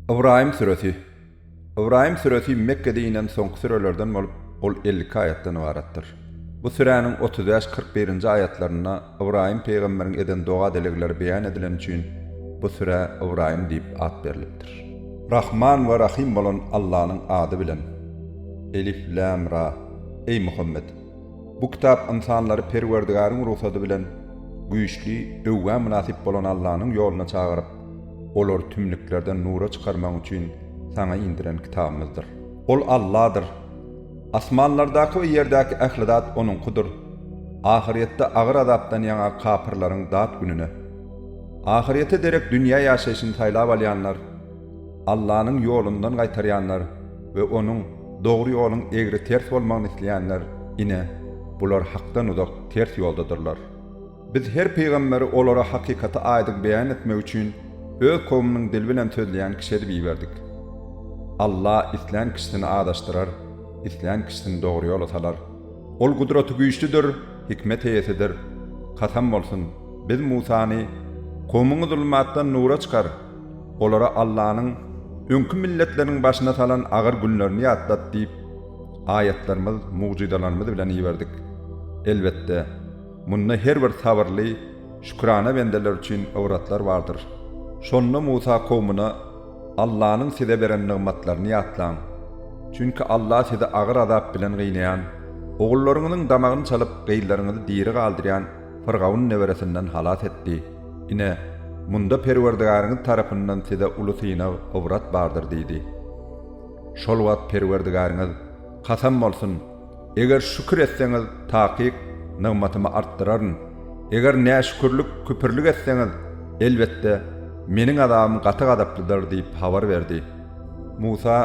Ybraýym süresi. Ybraýym süresi Mekgede inen soňky sürelerden bolup, ol elli iki aýatdan ybaratdyr. Bu süräniň otuz bäş, kyrk birinji aýatlarynda Ybraýym pygamberiň eden doga-dilegleri beýan edileni üçin bu sürä Ybraýym diýip at berlipdir. Rahman we Rahym bolan Allanyň ady bilen. Elif, Lämra. Eý, Muhammet! Bu kitap ynsanlary Perwerdigaryň rugsady bilen güýçli öwgä mynasyp bolan Allanyň ýoluna çagyryp, olary tümlüklerden nura çykarmagyň üçin saňa indiren kitabymyzdyr. Ol Alladyr. Asmanlardaky we ýerdäki ähli zat Onuňkydyr. Ahyrýetde agyr azapdan ýaňa kapyrlaryň dat gününe. Ahyrýete derek dünýä ýaşaýşyny saýlap alýanlar, Allanyň ýolundan gaýtarýanlar we Onuň, dogry ýoluň egri-ters bolmagyny isleýänler, ine, bular hakdan uzak, ters ýoldadyrlar. Biz her pygamberi olara hakykaty aýdyň beýan etmek üçin Öz kowumynyň dili bilen sözleýän kişi edip iberdik. Alla islän kişisini azaşdyrar, islän kişisini dogry ýola salar. Ol Gudratygüýçlüdir, Hikmet eýesidir. Kasam bolsun, Biz Musany, Kowumyňy zulmatdan nura çykar! Olara Allanyň öňki milletleriniň başyna salan agyr günlerini ýatlat diýip, aýatlarymyz, mugjyzalarymyz bilen iberdik. Elbetde, munda her bir sabyrly, şükrana bendeler üçin ybratlar bardyr. Şonda Musa kowmuna, Allanyň size beren nygmatlaryny ýatlaň. Çünki Alla sizi agyr azap bilen gynaýan, ogullaryňyzyň damagyny çalyp, gyzlaryňyzy diri galdyrýan, Fyrgawn neberesinden halas etdi. Ine, munda Perwerdigäriňiz tarapyndan size uly synag, ybrat bardyr diýdi. Şol wagt Perwerdigäriňiz, Kasam bolsun, eger şükür etseňiz, takyk, nygmatymy artdyraryn, eger näşükürlik, küpürlik etseňiz, elbetde, Meniň azabym gaty gazaplydyr diýip habar berdi. Musa,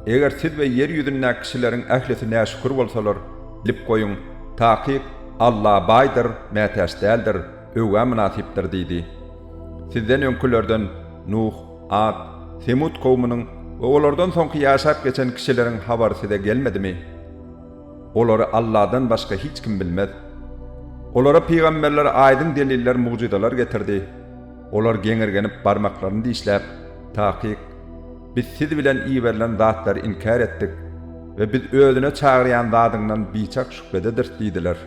Eger siz we ýer ýüzündäki kişileriň ählisi näşükür bolsalar, bilip goýuň, takyk, Alla baýdyr, mätäç däldir, öwgä mynasypdyr diýdi. Sizden öňkülerden Nuh, At, Semut kowmunyň we olardan soňky ýaşap geçen kişileriň habary size gelmedimi? Olary Alladan başga hiç kim bilmez. Olara pygamberler aýdyň deliller, mugjyzalar getirdi. Olar geňirgenip barmaklaryny dişläp, Takyk! Biz siz bilen iberilen zatlary inkär etdik we biz özüne çagyrýan zadyňdan biçak şübhedediris diýdiler.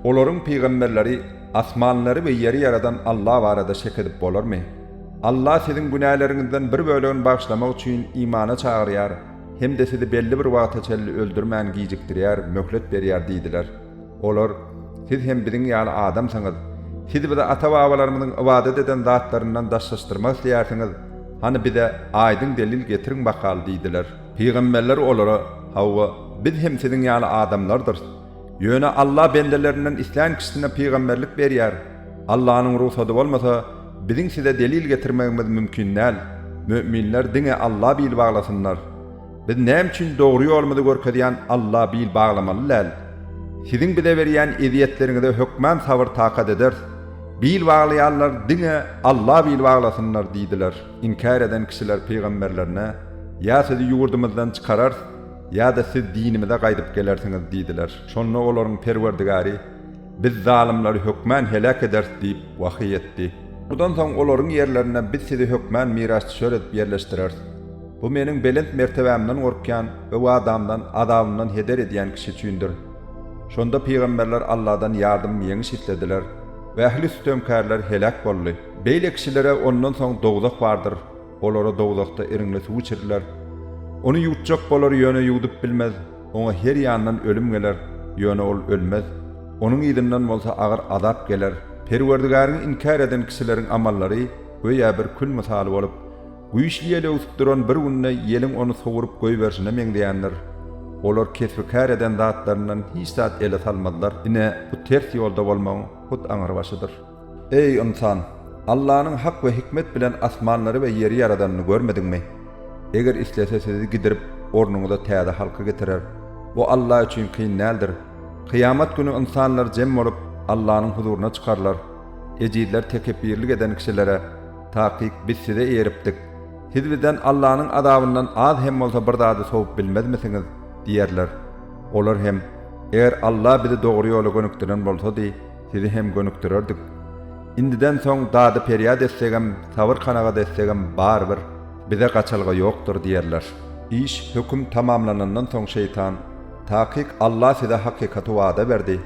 Olaryň pygamberleri, Asmanlary we ýeri ýaradan Alla barada şek edip bolarmy? Alla siziň günäleriňizden bir bölegini bagyşlamak üçin imana çagyrýar hem-de sizi belli bir wagta çenli öldürmän gijikdirýär, möhlet berýär diýdiler. Olar, Siz hem biziň ýaly adamsyňyz. Siz bize ata-babalarymyzyň ybadat eden zatlaryndan daşlaşdyrmak isleýärsiňiz, hany bize aýdyň delil getiriň bakaly diýdiler. Pygamberler olara, Hawa, biz hem siziň ýaly adamlardyrys. Ýöne Alla bendelerinden islän kişisine pygamberlik berýär. Allanyň rugsady bolmasa, biziň size delil getirmegimiz mümkin däl. Müminler diňe Alla bil baglasynlar. Biz näme üçin dogry ýolumyzy görkezýän Alla bil baglamaly däl? Siziň bize berýän ezýetleriňize hökman sabyr-takat ederis. Bil baglaýanlar diňe Alla bil baglasynlar diýdiler. Inkär eden kişiler pygamberlerine, Ýa sizi ýurdumyzdan çykararys, ýa-da siz dinimize gaýdyp gelersiňiz diýdiler. Şonda olaryň Perwerdigary, Biz zalymlary hökman heläk ederis diýip, wahyý etdi. Mundan soň olaryň ýerlerine biz sizi hökman mirasdüşer edip ýerleşdireris. Bu Meniň belent mertebämden gorkýan we wadamdan, azabymdan heder edýän kişi üçindir. Şonda pygamberler Alladan ýardym, ýeňiş islediler we ähli sütemkärler heläk boldy. Beýle kişilere ondan soň dowzah bardyr, olara dowzahda iriňli suw içiriler. Ony ýutjak bolar, ýöne ýuwdup bilmez, oňa her ýandan ölüm geler, ýöne ol ölmez, onuň yzyndan bolsa agyr azap geler. Perwerdigäriňi inkär eden kişileriň amallary göýä bir kül mysaly bolup, Güýçli ýel öwsüp duran bir günde ýeliň ony sowuryp goýberşine meňzeýändir. Olar kesbi-kär eden zatlaryndan hiç zat ele salmazlar, ine, bu ters ýolda bolmagyň hut aňrybaşydyr. Eý, ynsan! Allanyň hak we hikmet bilen asmanlary we ýeri ýaradanyny görmediňmi? Eger islese sizi gidirip, ornuňyza täze halky getirer. Bu Alla üçin kyn däldir. Kyýamat güni ynsanlar jem bolup, Allanyň huzuryna çykarylar. Ejizler tekepbirlik eden kişilere. Takyk biz size eýeripdik. Siz bizden Allanyň azabyndan az hem bolsa bir zady sowup bilmezmisiňiz? diýerler. Olar hem, Eger Alla bizi dogry ýola gönükdiren bolsady, sizi hem gönükdirerdik. Indiden soň dady perýat etsegem, sabyr kanagat etsegem barybir, bize gaçalga ýokdur diýerler. Iş, höküm, tamamlanandan soň şeýtan, Takyk Alla size hakykaty wada berdi.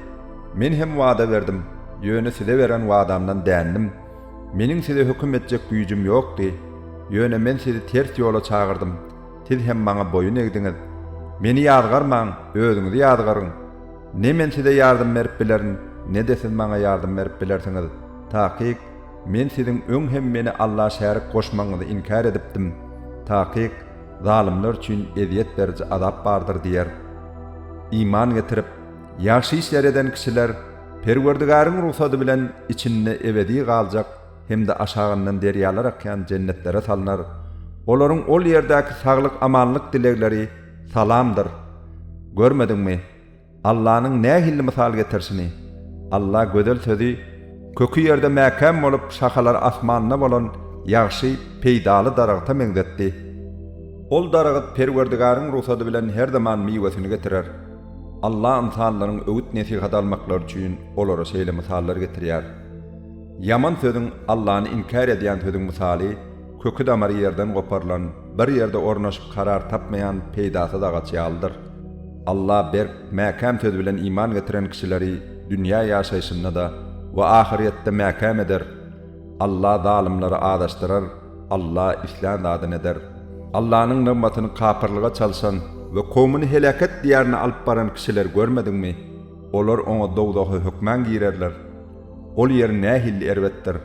Men hem wada berdim, ýöne size beren wadamdan dändim. Meniň size höküm etjek güýjüm ýokdy, ýöne Men sizi ters ýola çagyrdym, siz hem Maňa boýun egdiňiz. Meni ýazgarmaň, özüňizi ýazgaryň. Ne Men size ýardam berip bilerin, ne-de siz Maňa ýardam berip bilersiňiz. Takyk, Men siziň öň hem Meni Alla şärik goşmagyňyzy inkär edipdim. Takyk, zalymlar üçin ezýet beriji azap bardyr diýer. Iman getirip, ýagşy işler eden kişiler Perwerdigaryň rugsady bilen içinde ebedi galjak hem-de aşagyndan derýalar akýan jennetlere salnar, olaryň ol ýerdäki saglyk-amanlyk dilegleri salamdyr. Görmediňmi, Allanyň nähilli mysal getirişini? Alla gözel sözi köki ýerde mäkäm bolup, şahalary asmanda bolan ýagşy, peýdaly daragta meňzetdi. Ol daragat Perwerdigaryň rugsady bilen her zaman miwesini getirer. Allah ynsanlaryň öwüt-nesihat almaklary üçin olara şeýle mysallar getirýär. Ýaman sözüň, Allany inkär edýän sözüň mysaly, köki-damary ýerden goparylan, bir ýerde ornaşyp karar tapmaýan peýdasyz agaç ýalydyr. Allah berk, mäkäm söz bilen iman getiren kişileri dünýä ýaşaýşynda-da we ahyrýetde mäkäm eder. Alla zalymlary azaşdyrar, Alla islän zadyny eder. Allanyň nygmatyny kapyrlyga çalşan we kowmuny heläket diýarynda alyp baran kişileri görmediňmi? Olar oňa dowzaha hökman girerler. Ol ýer nähili erbetdir!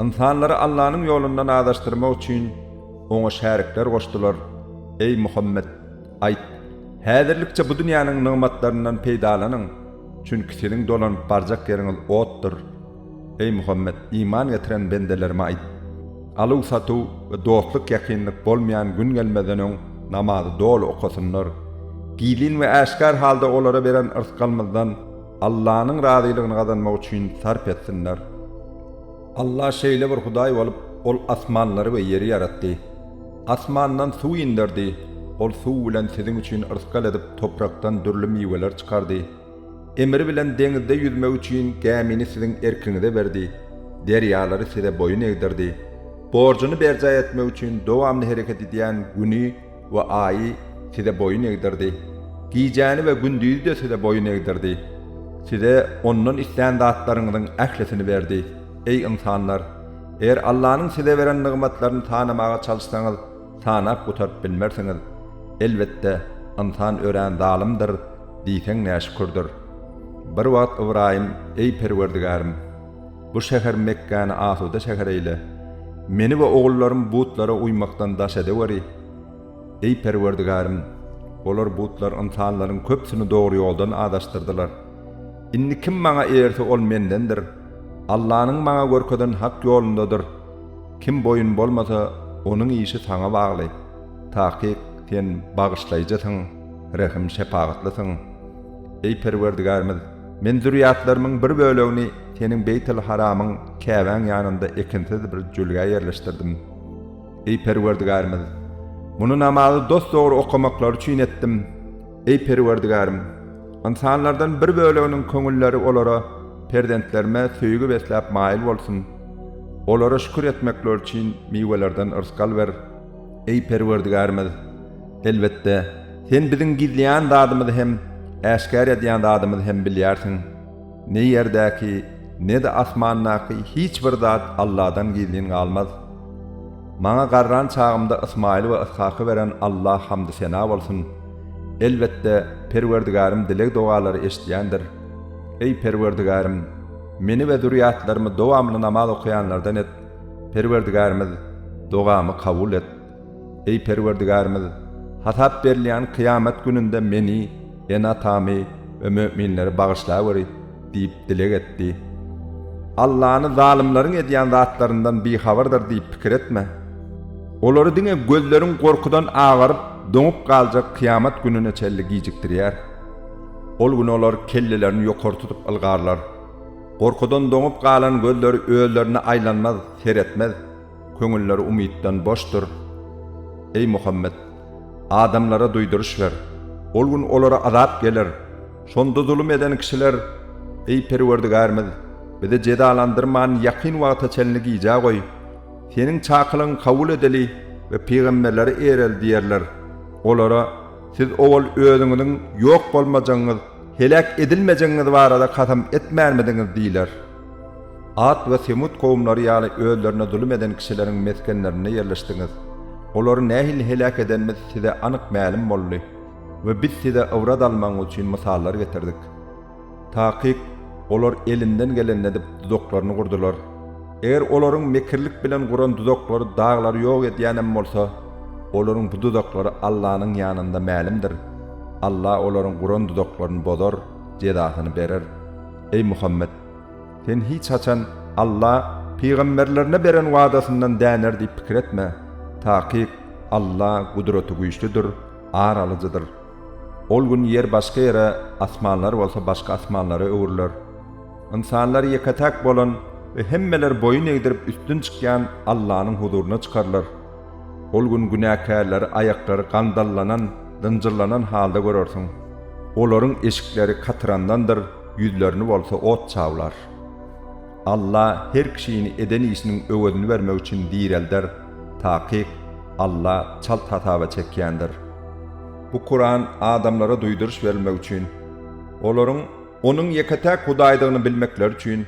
Ynsanlary Allanyň ýolundan azaşdyrmak üçin, Oňa şärikler goşdular. Eý, Muhammet! Aýt, Häzirlikçe bu dünýäniň nygmatlaryndan peýdalanyň, çünki siziň dolanyp barjak ýeriňiz otdur. Eý Muhammet, iman getiren bendelerime aýt, Aluw-satuw we dostluk-ýakynlyk bolmaýan gün gelmezden öň namazy doly okasynlar. Gizlin we äşgär halda olara beren yrsgalymyzdan Allanyň razylygyny gazanmak üçin sarp etsinler. Alla şeýle bir Hudaý bolup, Ol asmanlary we ýeri ýaratdy. Asmandan suw inderdi. Ol suw bilen siziň üçin yrsgal edip, toprakdan dürli miweler çykardy. Emri bilen deňizde ýüzmek üçin gämini siziň erkiňize berdi, derýalary size boýun egdirdi, borjuny berjaý etmek üçin dowamly hereket edýän Güni we Aýy size boýun egdirdi, gijäni we gündizi-de size boýun egdirdi. Size ondan islän zatlaryňyzyň ählisini berdi. Eý, ynsanlar! Eger Allanyň size beren nygmatlaryny sanamaga çalyşsaňyz, Sanap gutaryp bilmersiňiz. Elbetde, ynsan örän zalymdyr, diýseň näşükürdir. Bir wagt Ybraýym, Eý, Perwerdigärim! Bu şäher Mekgäni asuda şäher eýle. Meni we ogullarym butlara uýmakdan daş edeweri. Eý, Perwerdigärim! Olar, butlar, ynsanlaryň köpüsini dogry ýoldan azaşdyrdylar. Indi kim maňa eýerse, ol mendendir. Allanyň maňa görkezen hak ýolundadyr. Kim boýun bolmasa, onuň işi saňa bagly. Takyk, sen bagyşlaýjysyň, rehim-şepagatlysyň. Eý Perwerdigärimiz! Men zürýatlarymyň bir bölegini Seniň Beýtil-Haramyň, Käbäň, ýanynda ekinsiz bir jülgä ýerleşdirdim. Eý Perwerdigärimiz! Muny namazy dosdogry okamaklary üçin etdim. Eý Perwerdigärim! Ynsanlardan bir böleginiň köňülleri olara, Perzentlerime söýgi besläp maýyl bolsun. Olara şükür etmekleri üçin miwelerden rysgal ber. Eý Perwerdigärimiz! Elbetde, Sen biziň gizleýän zadymyzy hem, äşgär edýän zadymyzy hem bilýärsiň. Ne ýerdäki, ne-de asmandaky hiç bir zat Alladan gizlin galmaz. Maňa garran çagymda Ysmaýyly we Yshaky beren Alla hamdy-sena bolsun! Elbetde, Perwerdigärym dileg-dogalary eşidýändir. Eý, Perwerdigärim! Meni we zürýatlarymy dowamly namaz okaýanlardan et, Perwerdigärimiz, dogamy kabul et! Eý Perwerdigärimiz! Hasap berilýän kyýamat gününde meni, ene-atamy we müminleri bagyşlaweri! diýip dileg etdi. Allany zalymlaryň edýän zatlaryndan bihabardyr diýip pikir etme. Olary diňe gözleriň gorkudan agaryp, doňup galjak kyýamat gününe çenli gijikdirýär. Ol gün olar kellelerini ýokary tutup ylgarlar. Gorkudan doňup galan gözleri özlerine aýlanmaz, seretmez. Köňülleri umytdan boşdur. Eý Muhammet! Adamlara duýduryş ber. Ol gün olara azap geler. Şonda zulum eden kişiler, Eý Perwerdigärimiz! Bizi jezalandyrman ýakyn wagta çenli gijä goý. Seniň çakylygyň kabul edeli we pygamberleri eýereli diýerler. Olara, Siz owal özüňiziň ýok bolmajagyňyz, heläk edilmejegiňiz barada kasam etmänmidiňiz? diýiler. At we Semut kowumlary ýaly özlerine zulum eden kişileriň mesgenlerinde ýerleşdiňiz. Olary nähili heläk edenimiz size anyk mälim boldy we biz size ybrat almagyňyz üçin mysallar getirdik. Takyk, olar elinden gelenini edip, duzaklaryny gurdular. Eger olaryň mekirlik bilen guran duzaklary daglary ýok edýän hem bolsa, olaryň bu duzaklary Allanyň ýanynda mälimdir. Alla olaryň guran duzaklaryny bozar, jezasyny berer. Eý Muhammet! Sen hiç haçan Alla pygamberlerine beren wadasyndan däner diýip pikir etme. Takyk, Alla Gudratygüýçlüdir, Ar alyjydyr. Ol gün ýer başga ýere, asmanlar bolsa başga asmanlara öwrüler. Ynsanlar ýeke-täk bolan we hemmeler boýun egdirip üstün çykýan Allanyň huzuryna çykarylar. Ol gün günäkärleri aýaklary gandallanan, zynjyrlanan halda görersiň. Olaryň eşikleri katyrandandyr, ýüzlerini bolsa ot çawlar. Alla her kişini eden işiniň öwezini bermek üçin direlder, takyk, Alla çalt hasaba çekýändir. Bu Kuran adamlara duýduryş berilmek üçin, olaryň Onuň ýeke-täk Hudaýdygyny bilmekleri üçin,